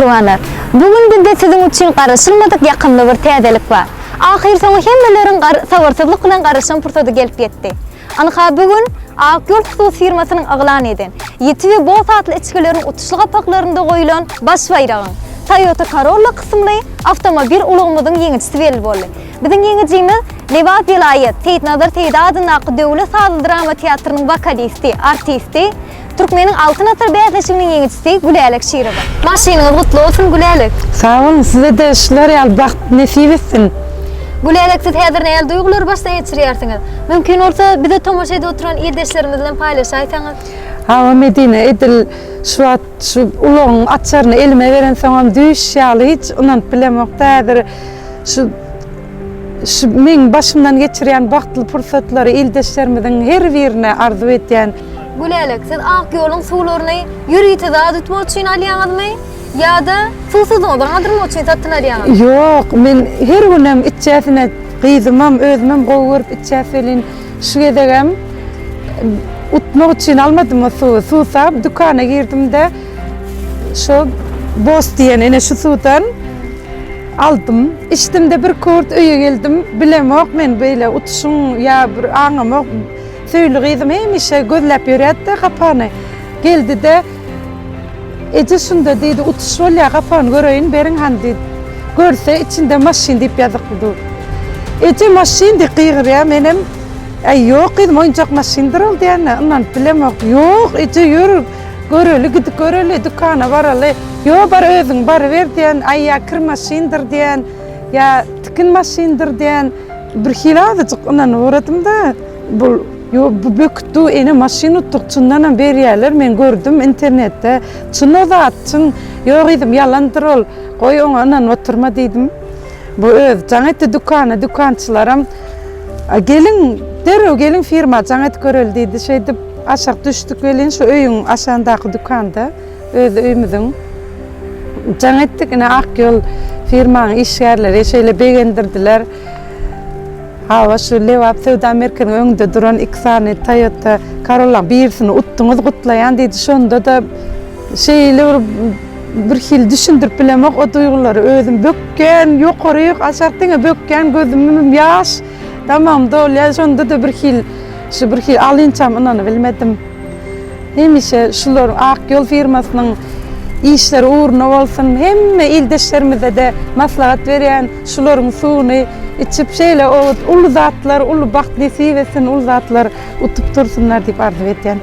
mähribanlar. Bu gün bizde siziň üçin garaşylmadyk ýakymly bir täzelik bar. Ahyrsoňy hemmeleriň sabyrsyzlyk bilen garaşan pursady gelip ýetdi. Ynha, bu gün Ak ýol hususy firmasynyň yglan eden Ýiti we Boss atly içgileriň utuşly gapaklarynda goýlan baş baýragyň, Toyota Corolla kysymly awtomobil ulagymyzyň ýeňijisi belli boldy. Biziň ýeňijimiz Lebap welaýat Seýitnazar Seýdi adyndaky döwlet sazly drama teatrynyň wokalisti, artisti, Türkmeniň Altyn asyr bäsleşiginiň ýeňijisi Gülälek Şirowa. Maşynyňyz gutly bolsun Gülälek. Sag boluň sizede şular ýaly bagt nesip etsin. Gülälek siz häzir nähili duýgulary başdan geçirýärsiňiz? Mümkin bolsa bize tomaşa edip oturan ildeşlerimiz bilen paýlaşaýsaňyz. Hawa Medine edil şu wagt şu ulagyň açaryny elime berensoňam düýş ýaly hiç ynanyp bilemokda häzir şu şu meň başymdan geçirýän bagtly pursatlary ildeşlerimiziň her birine arzuw edýän. Gülälek, siz ak ýoluň suwlaryny ýörite zat utmak üçin alýaňyzmy ýa-da suwsuzlygyňyzy galdyrmak üçin satyn alýaňyz? Ýok, men her günem içjäsine gyzymam, özümem gowy görüp içýäs welin, şu gezegem utmak üçin almadym o suwy. Suwsap dükana girdim-de, şo Boss diýen ene şu suwdan aldym. Içdim-de bir kurt öýe geldim, bilemok men beýle utuşyň ýa bir aňamok, Söýli gyzym hemişe gözläp ýörýärdi-de gapany. Geldi-de, Eje, şunda, diýdi, utuş bolýar, gapany göreýin beriň han, diýdi. Görse, içinde maşyn diýip ýazykly dur. Eje, maşyn diýip gygyrýar, menem, Äý, ýok, gyzym, oýunjak maşyndyr ol diýende, ynanyp bilemok. Ýok, eje, ýör, göreli, gidip göreli, dükana baraly. Ýok, bar özüň baryber diýen, aýýa kir maşyndyr diýen, ýa tikin maşyndyr diýen. Birhili azajyk ynanyp uradym-da, bul, ýo, bu bökütdi, ene maşyn utdyk, çyndanam berýärler, men gördüm internetde, çyn o zat, çyn, ýo gyzym, ýalandyr ol, goý, oňa ynanyp oturma diýdim. Bu özi jaň etdi dükana, dükançylaram, A geliň, derrew geliň firma jaň edip göreli diýdi, şeýdip, aşak düşdük welin, şu öýüň aşagyndaky dükanda. Öz öýümiziň jaň etdik. Ine Ak ýol firmaň işgärleri şeýle begendirdiler. Hawa şu Lebap söwda merkeziniň öňünde duran iki sany Toyota Corollaň birisini utduňyz gutlaýan diýdi. Şonda-da şeýle bir birhili düşündirip bilemok o duýgulary. Özüm bökýän, ýokaryk, aşak diňe bökýän gözümim ýaş, damagym dolýar. Şonda-da birhili şu birhili alynçam ynanybilmedim. Hemişe şular Ak ýol firmasynyň işleri ugruna bolsun, hemme ildeşlerimize-de maslahat berýän şularyň suwuny içip şeýle owut uly zatlar uly bagt nesip etsin uly zatlar utup dursunlar diýip arzuw edýän.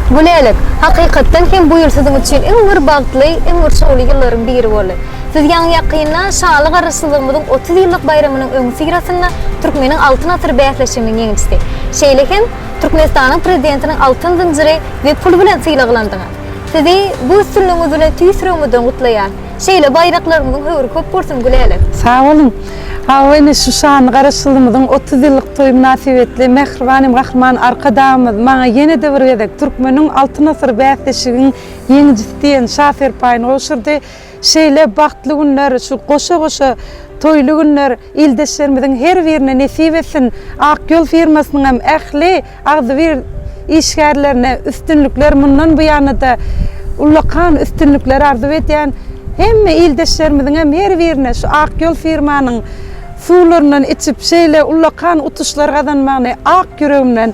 Gülälik, hakykatdan hem bu ýyl siziň üçin iň bir bagtly, iň bir şowly ýyllaryň biri boldy. Siz ýaňy ýakynda Şanly Garaşsyzlygymyzyň otuz ýyllyk baýramynyň öňüsyrasynda Türkmeniň Altyn asyry bäsleşiginiň ýeňijisi, şeýle hem, Türkmenistanyň Prezidentiniň altyn zynjyry we pul bilen sylaglandyňyz. Sizi bu üstünligiňiz bilen tüýs ýüregimizden gutlaýas. Şeýle baýraklarymyzyň höwri köp bolsun Gülälek! Sag boluň! Hawa ine şu şanly Garaşsyzlygymyzyň otuz ýyllyk toýy mynasybetli mähribanym Gahryman Arkadagymyz maňa ýene-de bir gezek Türkmeniň Altyn asyry bäsleşigiň ýeňijisi diýen şa serpaýyny gowşurdy. Şeýle bagtly günler, şu goşa-goşa toýly günler ildeşlerimiziň her birine nesip etsin! Ak ýol firmasynyň hem ähli agzybir işgärlerine üstünlikler, mundan bu ýana-da ullakan üstünlikler arzuw edýän. Hemme ildeşlerimiziň hem her birine şu Ak ýol firmanyň suwlaryndan içip, şeýle ullakan utuşlar gazanmagyny ak ýüregimden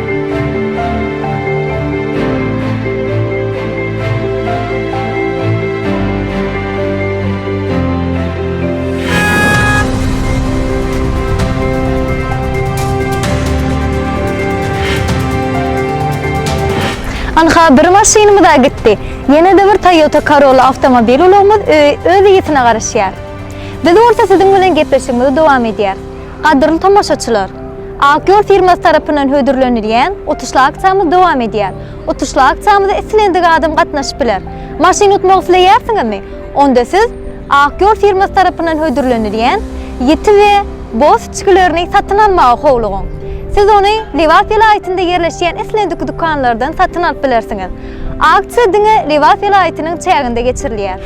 Ynha, bir maşynymyz-a gitdi. Ýene-de bir Toyota Corolla awtomobil ulagymyz ö-öz ýitine garaşýar. Biz bolsa siziň bilen gepleşigimizi dowam edýäris. Gadyrly tomaşaçylar! Ak ýol firmasy tarapyndan hödürlenilýän utuşly aksiýamyz dowam edýär. Utuşly aksiýamyza islendik adam gatnaşyp biler. Maşyn utmak isleýärsiňizmi? Onda siz Ak ýol firmasy tarapyndan hödürlenilýän ýiti we boz içgilerini satyn almaga howlugyň. Siz ony Lebap welaýatynda ýerleşýän islendik dükanlardan satyn alyp bilersiňiz. Aksiýa diňe Lebap welaýatynyň çäginde geçirilýär.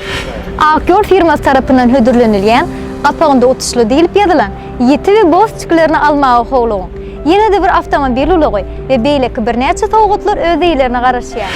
Ak ýol firmasy tarapyndan hödürlenilýän, gapagynda utuşly diýlip ýazylan ýiti we boz çkilerini almaga howlugyň, ýene-de bir awtomobil ulagy we beýleki birnäçe sowgatlar öz eýlerine garaşýar.